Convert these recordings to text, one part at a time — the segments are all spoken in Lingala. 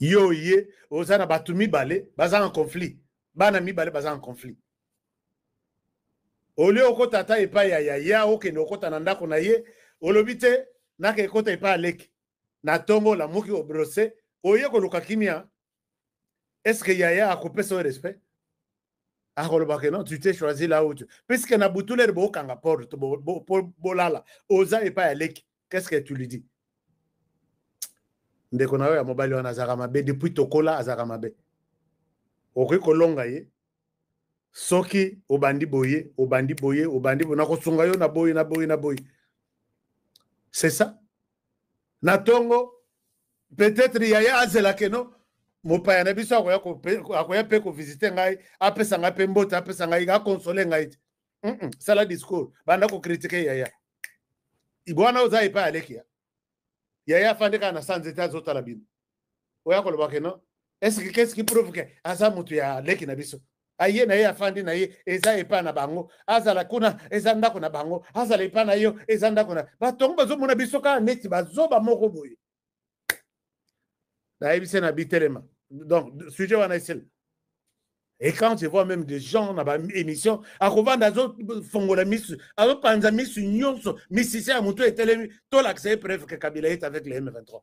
yo oye oza na bato mibale baza na conflit bana mibale baza na conflit olie okota ata epai ya yaya okende okota na ndako na ye olobi te naka ekota epai aleki na ntongo olamuki obrose oye koluka kimia est ce que yaya akopesa yo respect akoloba ke non tu t'es choisi là où tu puisque na butulere bokanga porte bolala oza epai ya leki qu'est ce que tu lui dis ndeko na yo ya mobali wana azalaka mabe depuis tokola azalaka mabe okoki kolonga ye soki obandi boye obandi boye obandi boye nakosunga yo na boye na boye na boye c'est ça na tongo peut-être yaya azela keno mopaya na biso akoya akoya mpe kovisite ngai apesa ngai mpe mbote apesa ngai akonsole ngai te mm -mm. sala discours banda kokritike yaya ibwana oza epai alekia yaya afandi kaka na sanze te azotala bino oya koloba ke non eske kesi ki prouve ke aza motu ya leki na biso aye na ye afandi na ye eza epai na bango azala kuna eza ndako na bango azala epai na yo eza ndako na bato yango bazomona biso kaka neti bazoba moko boye nayebise na bitelema donc sujet wana esila Et quand je vois même des gens dans l'émission, à revendre à d'autres fongola misu, à d'autres panza misu nyonso, misicien à moutou et télé, tout l'accès preuve que Kabila est avec les M23.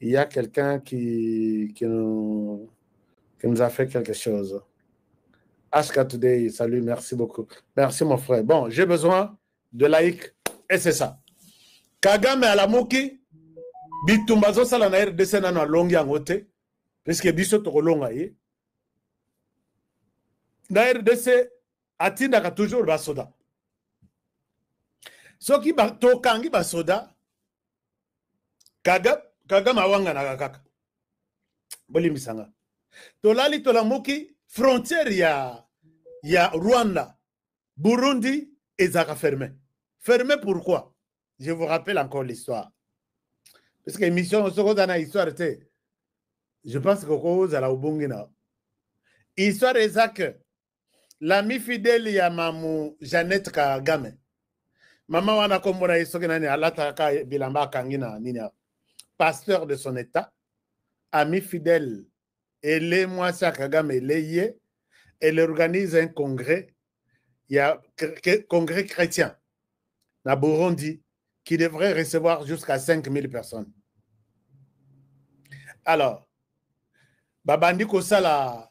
il y a quelqu'un qui, qui, nous, qui nous a fait quelque chose. HK Today, salut, merci beaucoup. Merci mon frère. Bon, j'ai besoin de laïcs et c'est ça. Kagame à la Mouki, bitumba zosala na rdc nano alongi yango te puiske biso tokolonga ye na rdc atindaka toujours basoda soki tokangi basoda kaga kagame awanganaka kaka bolimbisa nga tolali tolamuki frontière ya ya rwanda burundi ezalaka ferme ferme pourquoi je vous rappelle encore l'histoire parce que émission soki oza na histoire te je pense que kozala obongi na histoire eza que lami fidele ya mamu jeannette kagame mama wana kombo na ye soki nani alataka bilamba akangi na nini awa pasteur de son état ami fidèle ele mwasi ya kagame ele ye elle organise un congrès ya congrès chrétien na burundi qui devrait recevoir jusqu'à 5000 personnes alors babandi kosala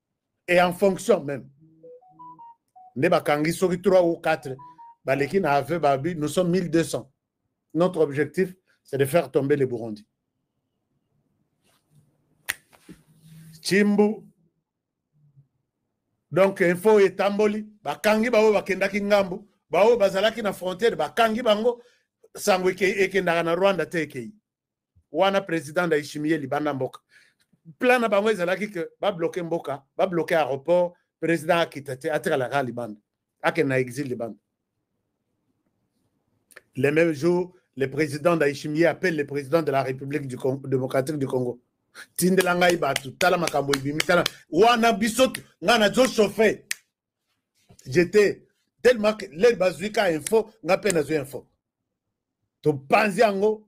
et en fonction même nde bakangi soki 3 ou 4 baleki na aveu babi nous sommes 1200 notre objectif c'est de faire tomber le burundi chimbu donc info etamboli bakangi baoyo bakendaki ngambo baoyo bazalaki na frontière bakangi bango sango ekendaka na rwanda te ekei wana president ndayishimiye ye libanda mboka plan na bango ezalaki ke babloke mboka babloke aéroport president akita te atikala kaka libanda akende na exil libanda le même jour le président ndayishimiye appelle le président de la république du congo, démocratique du congo tindela ngai bato tala makambo ebimi tala wana biso ngai nazo chauffe jete tellement que lele bazwi ka info ngai mpe nazwi info topanzi yango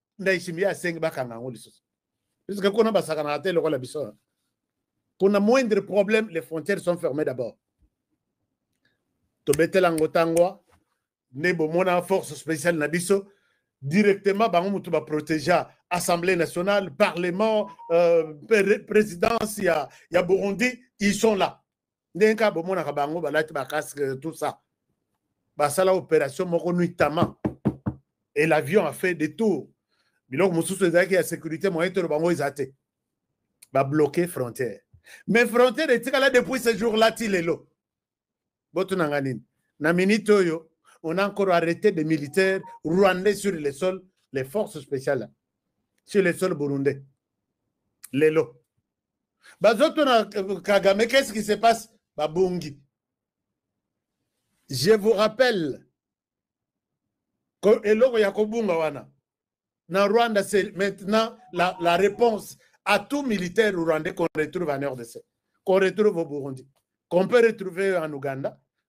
ndayishimiye asengi bakanga yango lisusu puisque kuna basakanaka te lokola biso kuna moindre problème les frontières sont fermées d'abord tobetela yango ntangwa nde bomona force spéciale na biso directement bango motu baprotégea assemblée nationale parlement euh, présidence ya, ya burundi ils sont là ndenge kaka bomonaka bango balati bacasque tout ça basala opération moko nuitamment et l'avion a fait des tours biloko mosusu ezalaki ya sécurité moyen toloba yango eza te babloke frontière mais frontière etikala depuis ce jour là ti lelo botuna nga nini na minute oyo on a encore arrêté des militaires rwandais sur le sol les forces spéciales sur le sol burundais lelo bazotuna kagame qu'est ce qui se passe babungi je vous rappelle eloko ya kobunga wana na rwanda c'est maintenant la, la réponse à tout militaire rwandais qu'on retrouve en rdc qu'on retrouve au burundi qu'on peut retrouver en ouganda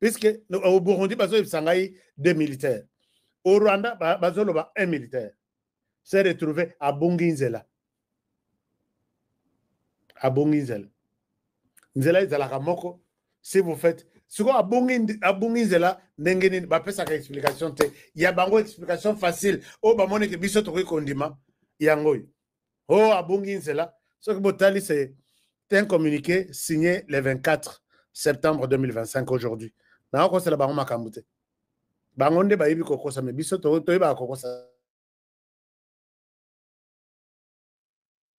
puisque au burundi bazoyebisa ngai de militaire au rwanda bazoloba un militaire se retrouve abongi nzela abongi nzela nzela ezalaka moko si vous faites sikoyo abongi abongi nzela ndenge nini bapesaka explication te ya bango explication facile oyo bamoneke biso tokoki kondima yango oyo o oh, abungi nzela soki botali se te un communiqué signé le 24 septembre 2025 aujourd'hui nayo kosala bango makambo te bango nde bayebi kokosa me biso toyebaka kokosa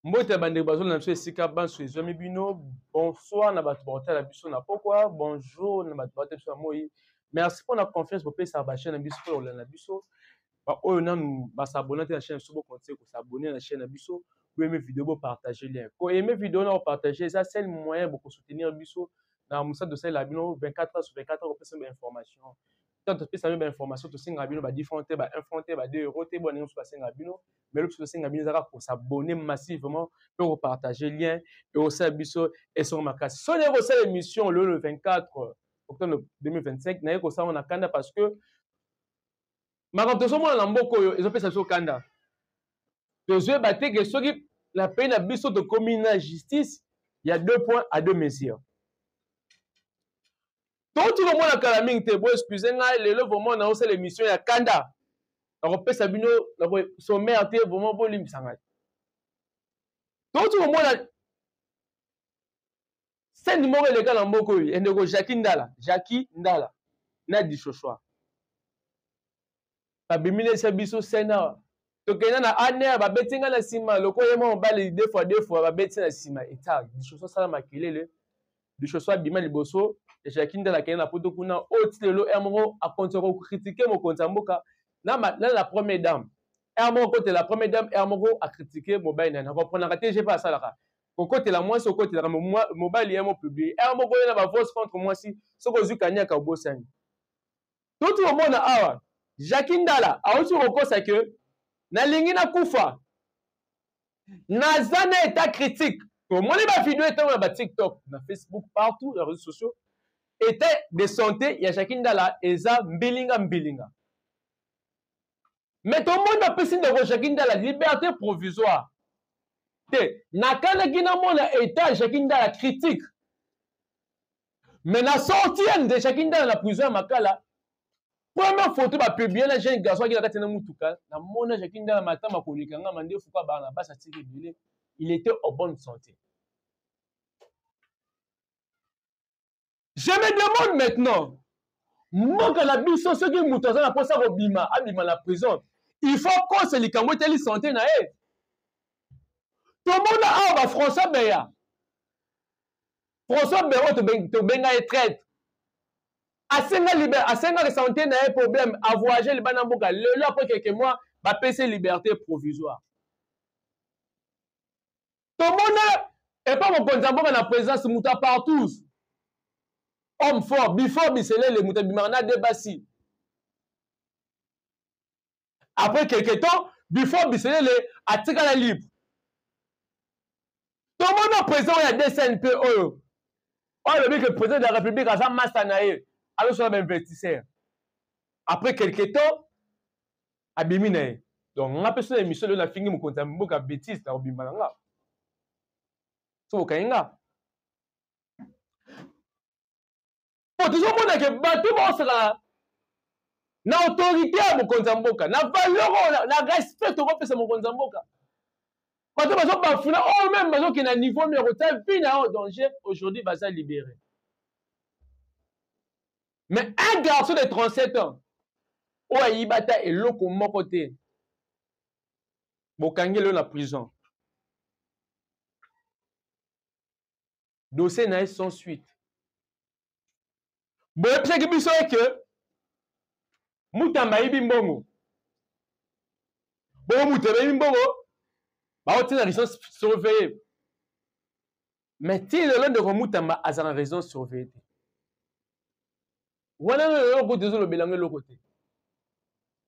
mbote ya bandeko bazolanda biso esika banso ezwami bino bonsoir na bato bakotala biso na pokwa bonjour na bato bakotala biso na moi merci mpona confiance bopesaka bachaine na biso mpona kolanda biso Ba oyo nanu ba s'abonner na chaîne biso bo continuer ko s'abonner na chaîne na biso bo aimer video bo partager lien ko aimer video na ko partager eza seul moyen boko soutenir biso na musala tosalela bino 24 heures sur 24 heures kopesa ba information tant topesa bino ba information tosenga bino ba 10 francs te ba 1 franc te ba 2 euros te bwana nyonso basenga bino mais lobi tosenga bino ezaka ko s'abonner massivement pe ko partager lien pe osala biso esonga makasi soni ekosala émission lelo le 24 octobre 2025 naye kosala na kanda parce que makambo tozomona na mboka oyo ezopesa biso kanda tozoyeba te ke soki na pays na biso tokomi na justice ya deux points à deux mesures touti komona kala mingi te bo excuse ngai lelo vraiment naosala émission ya kanda nakopesa bino sommaire te vraiment bolimbisa ngai touti komona Scène moko eleka na mboka oyo ya ndeko Jackie Ndala, Jackie Ndala na Dishoshwa. Babiminisa biso scène awa. Tokenda na Aner babeti nga na nsima lokola ye mwa mobali deux fois deux fois babeti na nsima etal Dishoshwa asala makelele. Dishoshwa abima liboso ya Jackie Ndala akenda na poto kuna oyo ti lelo heure moko akontinue kokritike mokonzi ya mboka na, na la première dame heure moko akotela première dame heure moko akritike mobali na ye na comprenaka te je mpe asalaka kokotela mwasi okotelaka mobali ya mopiblie ere moko oyena bavose contre mwasi soki ozwi kaniaka obosani toti omona awa jacki ndala auti kokosa ke nalingi nakufa naza na etat critique tomoni bavideo etango na batiktok na facebook partout na réseau sociaux etat de santé ya jacki ndala eza mbilinga mbilinga Mais ton monde a pesi ndeko Jackie Ndala liberté provisoire. Te, na kana kina mona état Jackie Ndala critique. Mais na sorti ya nde Jackie Ndala na prison ya Makala. Première photo ba publier na jeune garçon qui na kati na mutuka, na mona Jackie Ndala matama koleka nga mande fuka bana basa tiki bile. Il était en bonne santé. Je me demande maintenant, mboka na biso soki moto aza na mposa kobima abima na prison il faut kosa likambo etali sante na ye tomona awa bafrançois beya françois beya oyo tobenga ye traite asenga liber asengaki sante na ye problème avoyage libanda mboka lelo apres quelques mois bapesi liberté provisoire tomona epa mokonzi ya mboka na présidence moto ya partous homme fort before biselele moto abimaka na de basi après quelque temps before biselele atikala libre tomona président oyo ya dcnp oyo oyo alobi ke président de la république aza masta na ye azosala bainvestisseur après quelque temps abimi na ye donc nga mpe sona emission lelo nafingi mokonzi ya mboka betise na kobimba na nga so okangi nga mpo tozomona ke bato baosakana na autorité ya mokonzi ya mboka na valeur oyo na respect tokopesa mokonzi ya mboka bato bazobafuna oyo oh, meme bazokenda niveau moko ta vie na yo danger aujourd'hui baza libéré mais un garçon de 37 ans oyo ayiba ata eloko moko te bokangeli yo na prison dossier na ye sans suite boyebisaki biso eke mutamba ayibi mbongo bongo moto abebi mbongo baotina licence surveille mais ti lelo ndeko mutamba aza na raison surveille te wana no lelo kutu ezolobela ngo eloko te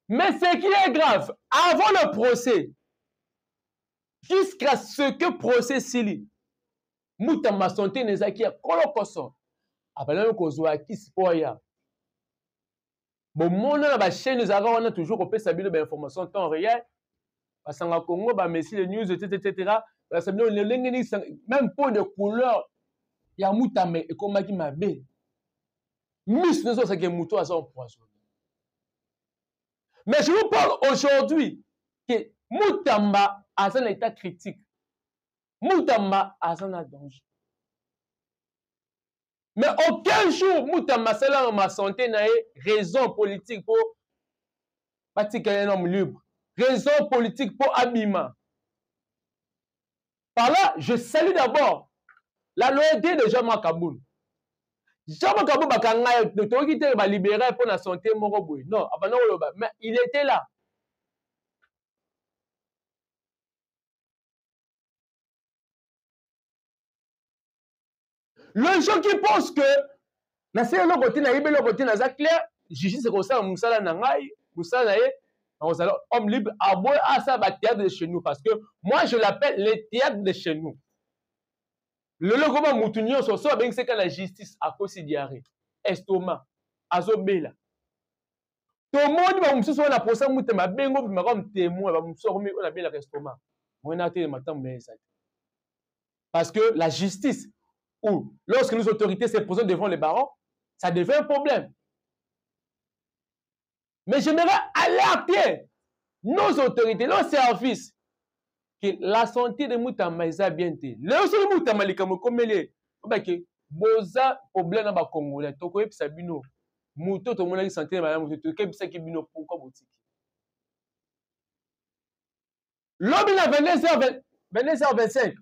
mais ce qui est grave avant le procès jusqu'à ce que procès sili mutamba sante na ezalaki ya kolokoso abalaki kozwa kisi mpo aya bomono na bachaine ezalaka wana toujours kopesa bino bainformation temps réel basanga congo bamesi le news etc etc balakisa bino lolenge nini même po de couleur ya mutame ekomaki mabe miso nyonso basaki moto aza empoisonne mais je vous parle aujourd'hui ke mutamba aza na état critique mutamba aza na danger mais aucun jour mutamba asalaka ma santé na ye raison politique mpo batika ye nomme libre raison politique mpo abima par là je salue d'abord la loyauté de jean marc kabul jean marc kabul bakanga ye toyoki te balibere mpo na santé moko boye non abanda koloba mais il était là le gens qui pense que nasala eloko te nayebi eloko te naza clair justice ekosala mosala na ngai mosala na ye nakozala homme libre aboye asala bathéâtre de chez nous parce que moi je l'appelle le théâtre de chez nous lelo ekoma motu nyonso so abengisi kaka na justice akosi diarrhée estoma azobela tomoni bamosusu wana posa mute mabe ngo bima comme témoin bamosusu akomi oyo nabelaka estoma moi na te matambo na ezali parce que la justice ou lorsque nos autorités se présentent devant les barons ça devient un problème mais j'aimerais alerter nos autorités nos services ke la santé de mutamba eza bien te lelo soki mutamba likambo ekomeli ye obake boza problème na bacongolais tokoyebisa bino moto tomonaki santé na malamu te tokebisaki bino pourkui botiki lobi na 22 25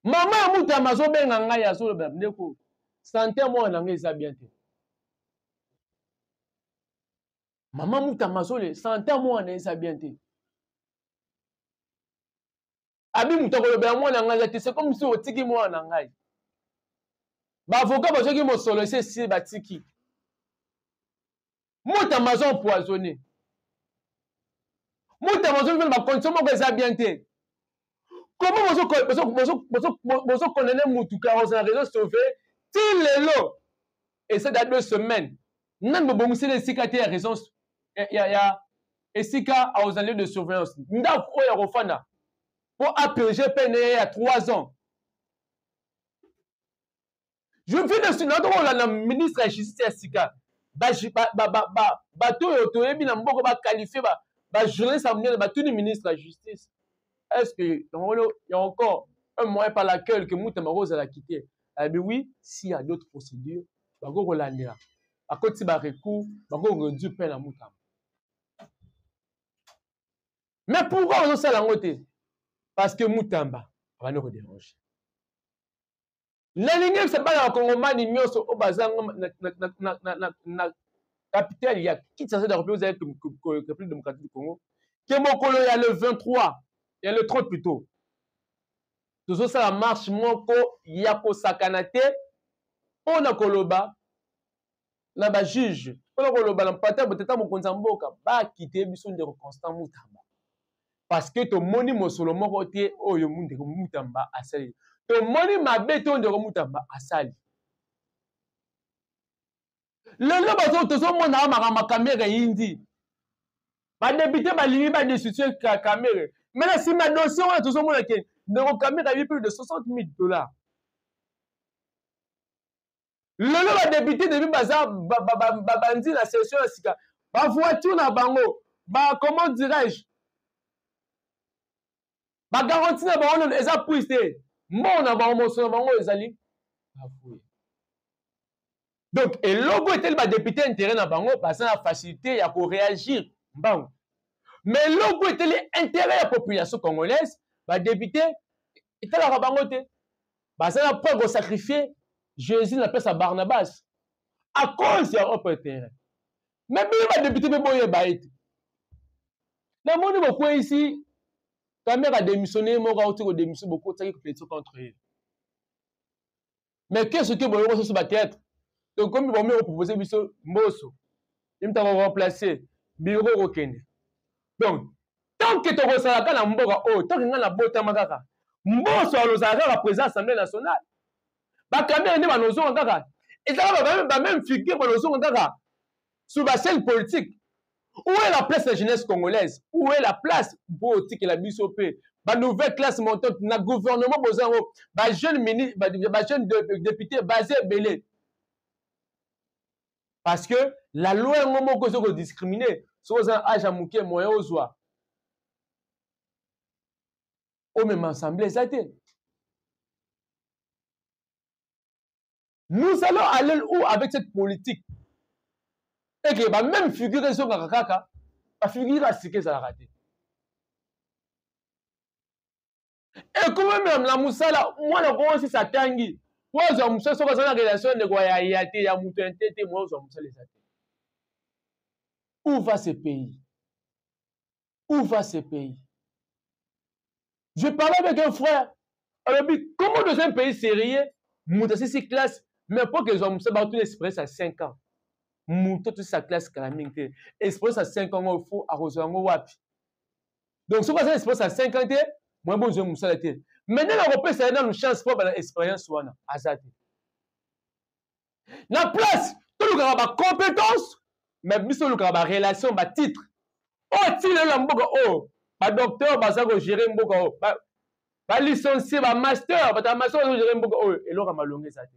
mama ya mutamba azobenga ngai azoloba ndeko santé ya mwana na ngai eza bien te mama mutamba azole santa mwana eza bien te abi moto akolobela mwana ya ngai eza te se comme si otiki mwana na ngai baavoka bazwaki mosolo esi esi batiki mutamba azo empoisonne mutamba azoli mpena bacondition moko eza bien te comment bozo bozo bozo bozo bozo condamner mutu car oza na raison sauver ti lelo et ça date deux semaines nani bobongiseli esika te ya raison ya ya esika aux lieu de surveillance ndako oyo ya kofanda mpo apurge pene ya 3 ans je viens de sina to kolanda ministre ya justice ya sika bato oyo toyebi na mboka bakalifie bajournaliste ya monene batuni ministre ya justice est ce que yango ya encore un moyen par laquelle que mutu bakozala kite abi eh oui s'il y a d'autres procédures bakoki kolandela bakoti ba recours bakoki koreduire mpe na mutamba mais pourquoi bazosala yango te parce que mutamba abandi koderange nalingi yebisa bana bakongomani nyonso oyo baza na capitale ya kinshasa dakope ozali république démocratique du congo ke mokolo ya le 23 ya le 30 plutôt tozosala marche moko ya kosakana te mpo na koloba na ba juge mpona koloba na mpata botata mokonzi ya mboka bakite biso ndeko constant mutamba parce que tomoni mosolo moko te oyo ndeko mutamba asali tomoni mabe te oyo ndeko mutamba asali lelo bazo tozomona awa makambo ya kamere eyindi badepute balingi badestitue kamere me na nsima dossier wana tozomona ke ndeko kamere ayebi plus de 60 000 dollars lelo ba député depuis baza babandi na session ya sika ba voiture na bango ba comment dirais-je ba garantie na bango nano eza prise te mbongo na bango moso na bango ezali bafouye donc eloko etali badepute intérêt na bango baza na facilité ya koréagir mbango ma eloko etali intérêt ya population congolaise badepute etalaka bango te baza na preuve kosacrifie jésus na place ya barnabas à cause ya ope terrain me bino badepute mpe boyeba ete namoni bokweisi kamere ademissione ye moko auti kodemissione bokotaki competition contre ye mais ke soki boyoko soso bateatre tokomi bomei kopropose biso mboso ye moto ako remplacer biro kokende donc tanke tokosalaka na mboka oyo oh, tanke ngai nabotama kaka mboso alozala kaka président assemblée nationale bakamere nde banozonga kaka ezalaka bameme figure banozonga kaka sur bascène politique où est la place ya jeunesse congolaise où est la place mpo otikela biso mpe banouvelle classe montante na gouvernement boza yango bajeune mini bajeune député baza ebele parce que la loi yango moko ezo ko discriminer soki oza na age ya moke moyen ozwa omema ensemble eza te nous allons aller où avec cette politique eke ba même figure ezongaka kaka bafigure ya sika ezalaka te ekomemela mosala mwana ko osisi atangi po azwa mosala soki aza na relation ndeko ya ya te ya moto ya nte te moya ozwa mosala eza te où va ce pays où va ce pays je parlais avec un frère alobi comment dans un pays sérieux moto asisi classe mais po ke ezwa mosala bakotuna expérience ya 5 ans moto atosisa classe kala mingi te expérience ya 5 ans oyo fo akozwa yango wapi donc soki aza na expérience ya 5 ans te moye bozwa mosala te mais nani akopesa ye nanu chance mpo abana expérience wana aza te na place tolukaka bacompétence mais biso tolukaka barelation batitre oyo oh, ntina lelo ya mboka oyo oh, badocteur baza kogere mboka oyo oh, balicencie bamaster bato ya master baza kogere mboka oyo eloko ya malonga eza te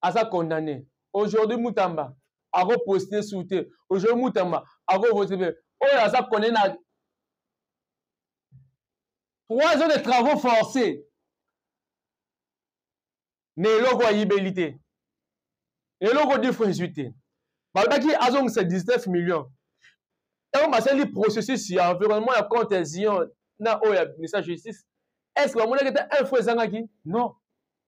aza condamne aujourd'hui mutamba ako poste su te aujourd'hui mutamba ako vote pe oyo aza condamne na trois ans de travaux forcés na eloko ayibeli te eloko difre ezwi te balobaki azongisa 19 million ntango basali processus ya environnement ya compte ya zion na oyo ya ministère ya justice est ce que bamonaki ete info ezangaki non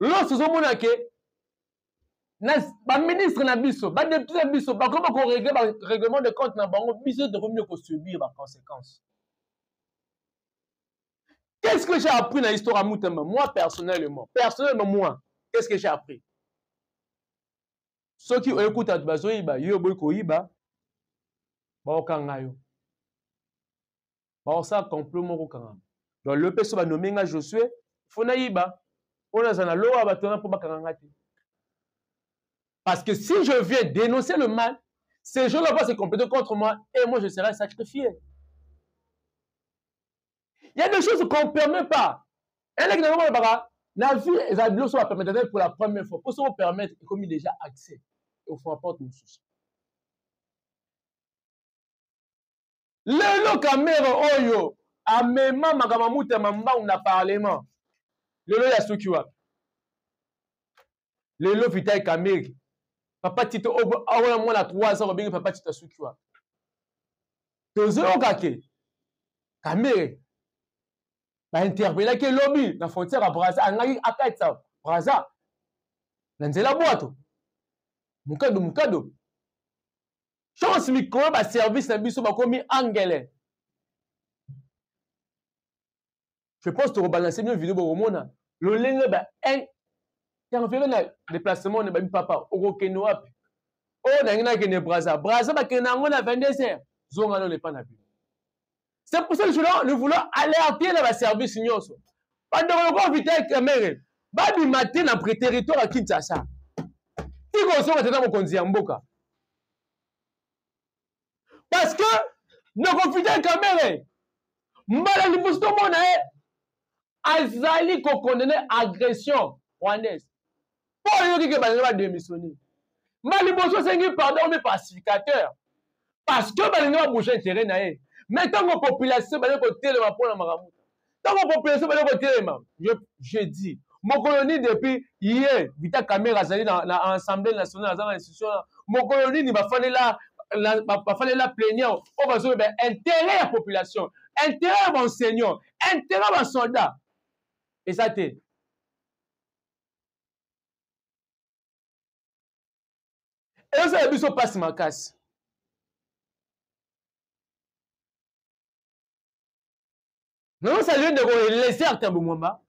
loso ozomona ke baministre na biso badepute na biso bakomi bakoregle barèglement de compte na bango biso tokomi nde kosubir baconséquence qu'est ce que j'ai appris na histoire ya mutamba moi personnellement personnellement moi qu'est ce que j'ai appris soki oye kuta bato bazoyiba yo oboyi koyiba baokanga yo bakosala complot moko okangama donc lelo mpe so banome nga josue fo nayiba mpo naza na lowa bato wana mpo bakanga nga te parce que si je viens dénoncer le mal ces gens-là vont se compléter contre moi et moi je serai sacrifié il y a des choses qu'on permet pas eleki na ngomona baka na vie ezala biloso bapermetaka pour la première fois mpo soki opermettre ekomi déjà accès ofo porte mosusu lelo kamere oyo amema makambo ya mutu ya mambangu na parlement lelo ye asuki wapi lelo vitai kamere papa tito awana mwana 3 ans obengi papa tito asuki wapi tozoyoka ke kamere bainterpelaki elobi na frontière ya braza angaki akatisa braza na nzela bwato mukado mukado chance mikolo ba service na biso bakomi angele je pense tokobalanse bino video bokomona lolenge ba interfere na déplacement na babi papa okokende wapi oyo nangi nakende braza braza bakende yango na 22 heures zonga nano epa na bino C'est pour ça que nous voulons alerter les services nyonso. Bando lokola Vital Kamerhe babima te na territoire ya Kinshasa. Tikozonga tata mokonzi ya mboka. Parce que ndeko Vital Kamerhe mbala liboso tomona ye azali ko condamne agression rwandaise mpo ayoki ke balingi bademissionne ma liboso asengi pardon mi pacificateur parce que balingi babouge interet na ye me ntango population bali kotelema mpo na makambo ntango population bali kotelema je dis mokolo nini depuis ye vita kamere azali na, na assemblée nationale aza na institution wana mokolo nini bafalela bafalela plenière oyo bazoloba interet ya population interet ya baenseignant intérêt ba soldat eza te ezala biso mpasi makasi nazosaleli ndeko elezer tambo mwamba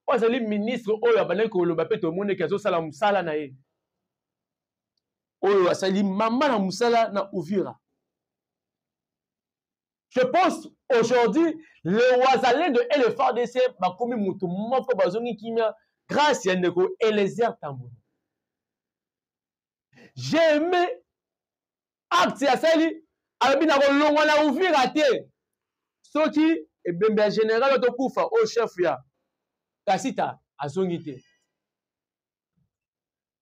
oyo azali ministre oyo abandaki koloba mpe tomoni eke azosala mosala na ye oyo asali mama na mosala na uvira je pense aujourd'hui le wazalendo et le fardc bakomi motu moko bazongi kimia grâce ya ndeko elezer tambona j'ai aimé acte asali alobi nakolongwa na uvira te soki ebembe ya général otokufa oyo chef ya kasita azongi te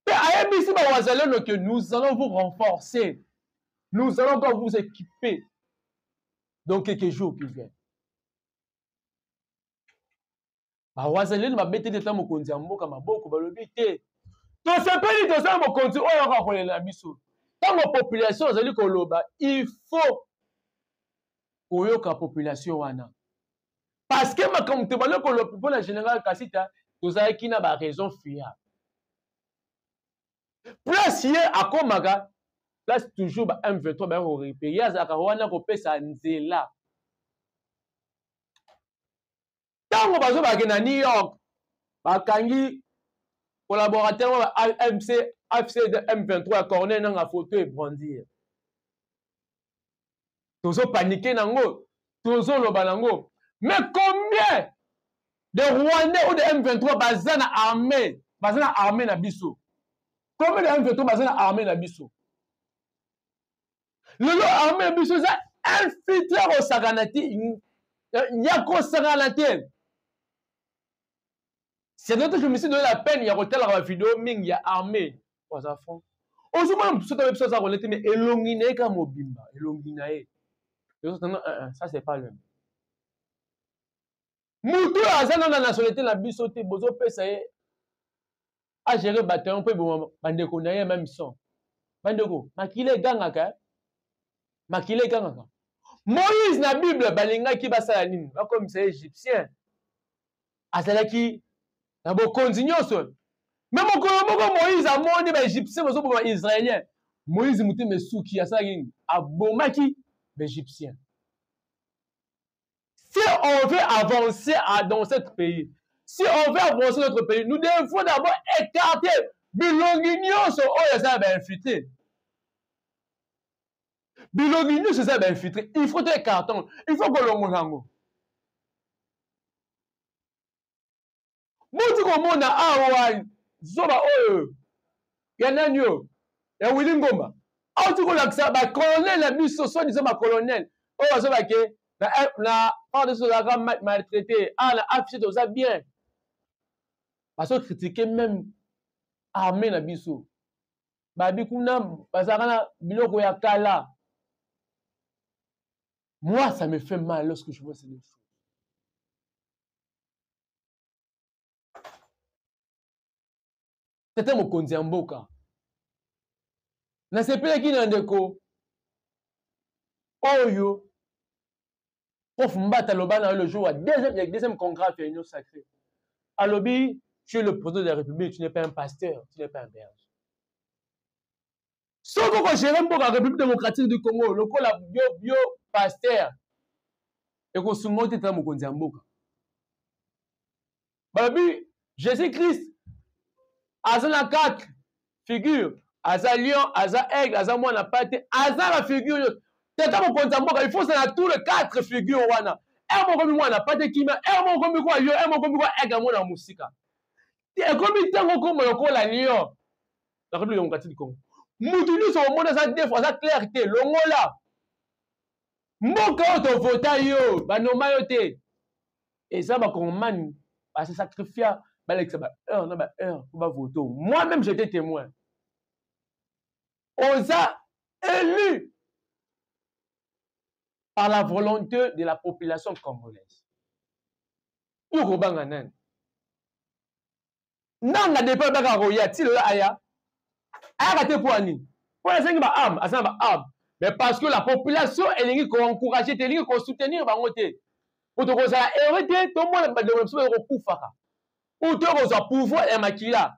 Pe ayebisi ba wazalendo que nous allons vous renforcer. Nous allons encore vous équiper dans quelques jours qui viennent. Ba wazalendo ba beteli ta mokonzi ya mboka maboko balobi te. Tosepeli toza mokonzi oyo akolela biso. Tango population azali koloba il faut koyoka population wana. parce que makambo tobandi koloba mpo na général kasita tozalaki na baraison fiable place ye akomaka place toujours ba m23 baye korepe ye azalaka wana kopesa nzela ntango bazobake na new york bakangi collaborateur wa amc afc de m23 ya corneille nanga foto ebrandir tozo paniquer nango tozo loba nango mais combien de rwandais ou de m23 baza na armée baza na armée na biso combien de m23 baza na armée na biso lelo armée na biso eza infiltre ya kosakana te ya kosakana te c'est notre je me suis donné la peine ya kotalaka bavideo mingi ya armée oyo aza franc ozomona mosusu ata biso aza kolete me elongi na ye kaka mobimba elongi na ye ça c'est pas le motu oyo aza nano na nationalité na biso te bozopesa ye agere bataillon mpo eboma bandeko na ye meme son bandeko makila egangaka eh? makila egangaka moïse na bible balingaki basala nini bakomisa ye égyptien azalaki na bokonzi nyonso me mokolo moko moïse amoni baegyptien bazoboma baisraélien moïse motema esuki asalaki nini abomaki baegyptien si on veut avancer dans ce pays si on veut avancer notre pays nous devons d'abord écarter bilongi nyonso oyo eza ya bainfiltre bilongi nyonso eza ya bainfiltre il faut to écarton il faut kolongola yango boti komona awa zoba oyo ya nani oyo ya wili ngomba auti kolakisa bacolonel na biso so diza bacolonel oyo bazobake na pardon tozalaka maltraité awa na affiche toza bien bazo kritike meme armée na biso babi kuna bazalaka na biloko ya kala Moi, ça me fait mal lorsque je vois ces deux choses. tata mokonzi ya mboka nasepelaki na ndeko oyo prof mbata aloba na yo le jour ya deuxième, deuxième congrès ya union sacrée alobi tu es le président de la république tu n'es pas un pasteur tu n'es pas un berger soki okogere mboka république démocratique du congo lokola yo yo paster ekosumba yo te tala mokonzi ya mboka balobi jésus christ aza na quatre figure aza lion aza aigle aza mwana pate aza na figure yo tata mokonzi ya mboka ifo ozala tout le quatre figure wana ere mokomi mwana pate kimia ere mokomi kwa lion ere mokomi kwa aigle yango na mosika ekomi ntango okoma lokola lion la République démocratique du Congo mutu nyonso omoni aza defo aza claire te longola mboka oyo tovota yo banoma yo te eza bakongomani base sacrifia balekisa baheure na baheure mpo bavote moi même j'étais témoin oza élu par la volonté de la population congolaise yo kobanga nani nanga depuis alobaka akoya ti lelo aya ayaka te mpo ya nini mpo nasengi ba arme aza na ba arme mais parce que la population elingi koencourage te elingi kosoutenir bango te mpo tokozala heureux te tomona bandeko na biso baye kokufaka mpo tokozwa pouvoir ya makila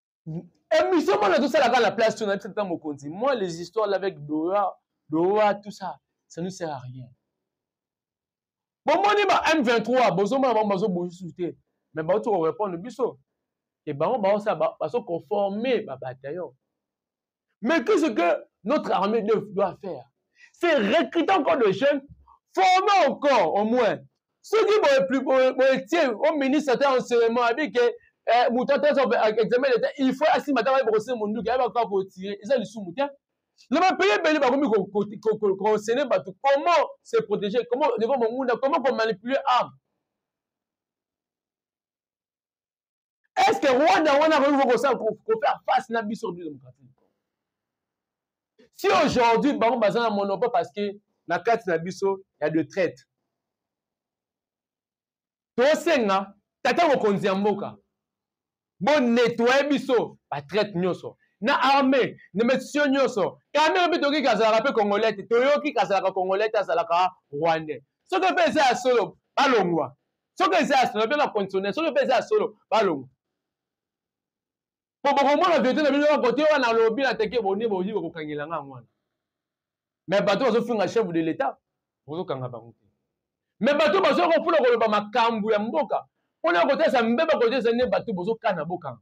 émission mwana tosala kaka na place to na biso ata mokonzi moi les histoires là avec dora dora tout ça ça ne sert à rien bomoni ba m23 bozomona bango bazobongi susu te mais bauti korépondre biso ke bango baosala bazoconforme babataillon Mais qu'est-ce que notre armée doit faire C'est recruter encore de jeunes, former encore au moins. Ceux qui vont plus boetier au ministre de l'enseignement a dit que eh, moto atasa examen d'etat il faut asima ntango ayeba kosala monduki ayeba kaka kotire eza lisumu te na bapaye ebele bakomi konsene bato comment se protéger comment devant mongunda comment komanipuler arme est ce que rwanda wana akoki kosala kofaire face na biso république démocratique du congo si aujourd'hui bango baza na monopole parce que na kati na biso ya de traite tosenga tata mokonzi ya mboka bonetoye biso batraite nyonso na armée na mesio nyonso kamere mpe toyoki kazalaka mpe congolais te toyoki kazalaka congolais te azalaka rwandais soki mpe eza ya solo balongwa soki eza ya solo bena conditionnel soki mpe eza ya solo balongo mpo bokomona verite na bino kote wana alobi na teke boni boyi bokokangela nga yango wana me bato bazofinga chef de l'etat bozokanga bango te me bato bazoyaka mpona koloba makambo ya mboka mpona kotalisa mbeba kotalisa nde bato bozokana bokanga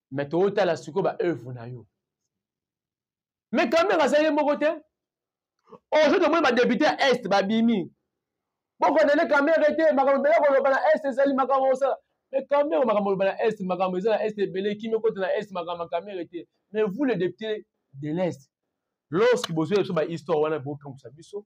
mais tootala sikoyo ba œuvre na yo mais quand même aza ye moko te aujourd'hui tomoni badepute ya est babimi bokonene kamere te makambo ebele koloba na est ezali makambo osala mais kamere makambo oloba na est makambo eza na est ebele kimi ekota na est makambo ya kamere te mais vous le député de l'est lorsque bozwi biso bahistoire wana bokamwisa biso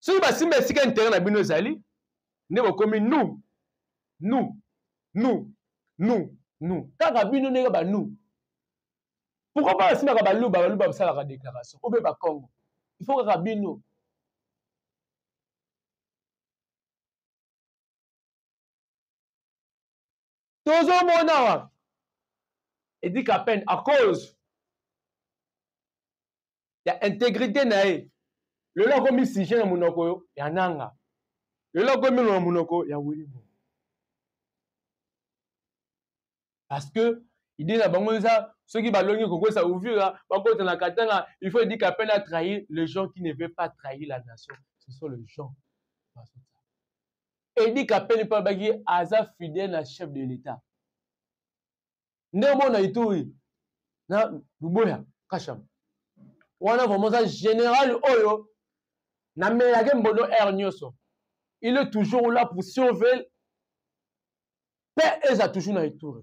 soki basimba esika intere na bino ezali nde bokomi nu nu nu nu nu kaka bino ndenge banu pourkoi mpo basimbaka baluba baluba basalaka déclaration obe bakongo ifo kaka bino tozo mona wa edi kapen à cause ya intégrité na ye lelo akomi sujet na monoko ya nanga lelo akomi na monoko ya wilimo parce que idée na bango eza soki balongi kokosa uvira bakota na katanga il faut edi kapen à trahir les gens qui ne veut pas trahir la nation ce sont les gens Edi Kapeni mpe alobaki aza fidèle na chef de l'État. Nde omona Ituri na Luboya Kasham. Wana vraiment aza général oyo na melage mbono heure nyonso. Il est toujours là pour surveiller mpe eza toujours na Ituri.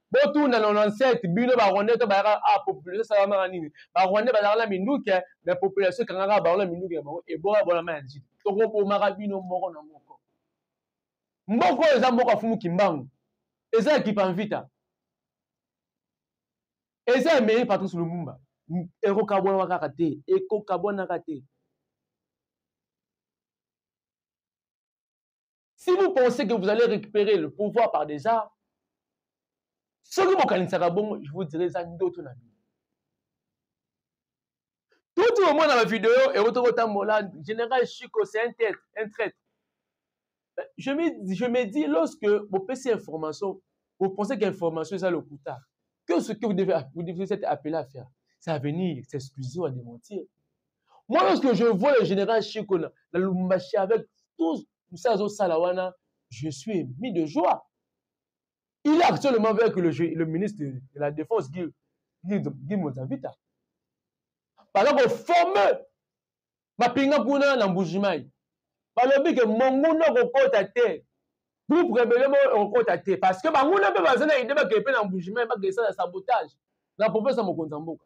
botuna 97 bino ba rwandais to bayaka a ah, population salamaka nini ba rwandais bazalaka na minduke mais population ekangaka bango na minduke na bango eboya bolama ya njili tokobomaka bino moko na moko mboka oyo eza mboka fumu kimbangu eza ya kipanvita eza ya mairie patrice lumumba ekokabwanaka kaka te ekokabwanaka te si vous pensez que vous allez récupérer le pouvoir par des armes soki bokanisaka bongo je vous dirai eza ndoto na bino tuti omona bavideo ekotoki otambola général chico c'est un tête un traite je me, je me dis lorsque bopesi information vous pensez qu'information eza lokuta que ce que vous devez, vous devez être appelé à faire c'est à venir s'excuser ou à démentir Moi, lorsque je vois le général Chico na, na Lumbashi avec tous ça au Salawana, je suis mis de joie. Il est actuellement avec le, le ministre de la Défense, Guy, Guy, Guy Mozavita. Par exemple, fameux Mapinga Kuna na Mbujimai. balobi ke monguna okokota te groupe rebele moko okokota te parce que banguna mpe baza na ide bakee mpe na mbujimai bakesala sabotage na profesa mokonzi ya mboka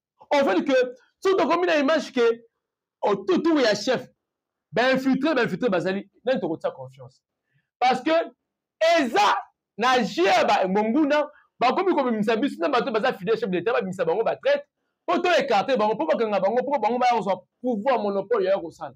on veut que soki tokomi na image ke otutu ya chef bainfiltre bainfiltre bazali nani tokotia confiance parce que eza na jeu ya banguna bakomi kobimisa biso na bato baza fidèle chef d'état babimisa bango batraite mpo to écarte bango mpo bakanga bango mpo bango baya kozwa pouvoir monopole yaya kosala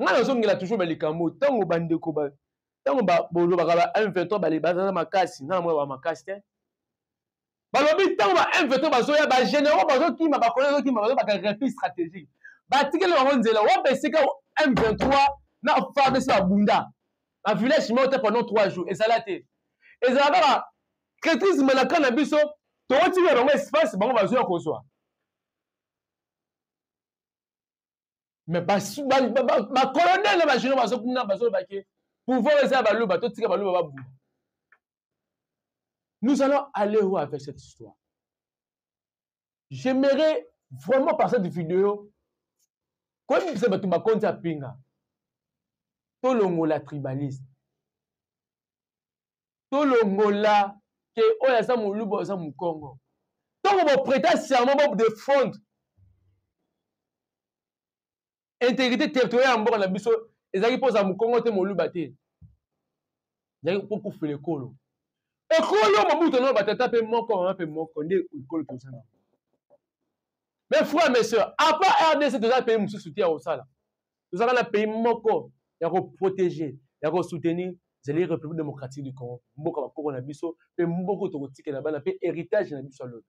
ngai nazongela toujours ba likambo ntango bandeko ba ntango bolobaka ba m23 bale baza makasi ngai namona ba makasi te balobi ntango ba m23 bazoya ba généraux bazokima bakolo ezokima bazobaka refus stratégique batikeli bango nzela wapi esika m23 na fardc babunda na village moko te pendant 3 jours ezala te ezala kaka traitrise malaka na biso tokotikela bango espace bango bazoya kozwa me bacolonel na bageno bazokuna bazoloba ke pouvoir eza ya baluba totika baluba babunda nous allons aller où avec cette histoire j'aimerais vraiment par cette vidéo koyebisa bato bakonzi ya pinga tolongola tribaliste tolongola ke oyo aza moluba oza mokongo ntango bopreta serment bobdefendre intégrité territoriale ya mboka na biso ezalaki mpo oza mokongo te moluba te ezalaki mpo kufela ekolo ekolo mobutu nao batata mpe moko mama mpe moko nde ekolo toza na mes frères mes soeurs apa rdc toza mpe mosusu te ya kosala tozalaka na pays moko ya koprotege ya kosoutenir ezali république démocratique du congo mboka bakoko na biso mpe mboka tokotikela bana mpe héritage na biso ya lobi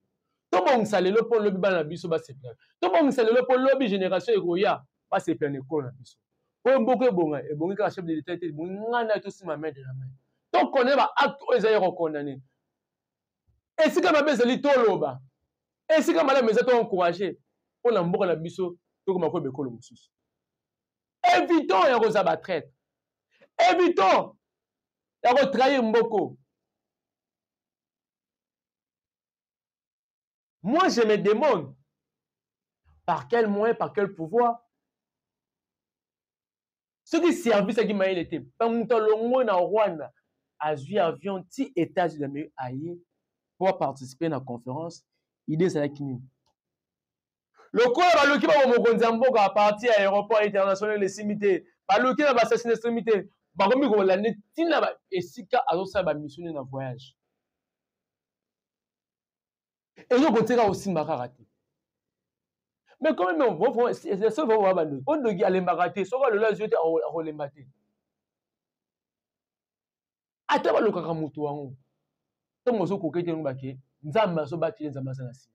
tobongisa lelo mpo lobi bana na biso basepela tobongisa lelo mpo lobi génération ekoya basepela na ekolo na biso oyo mboka ebonga ebongi kaka chef de l'état te ebongi ngai na tosima main de la main tokondane baacte oyo eza ya kokondane esika mabe ezali toloba esika malamu eza to encourage mpo na mboka na biso tokoma koyeba ekolo mosusu évitons ya kozala batraite évitons ya kotrahir mboko Moi, je me demande par quel moyen, par quel pouvoir soki service yaki mayele te mpe moto alongwe na rwanda azwi avion ti états-unis d'amérique aye mpo aparticipe na conférence ide ezalaki nini lokola baluki bango mokonzi ya mboka aparti ya aéroport international esimbi te baluki na basasina esimbi te bakomi kolande ntina esika azosala bamisio nde na voyage eloko tika kosimba kaka te mais quand même seul vraiment bandoki mpo ndoki alembaka te soki alola azwi te akolemba te ata balokaka moto yango ntango ozokoka ete yango bake nzambe azobateli nzambe aza na nsima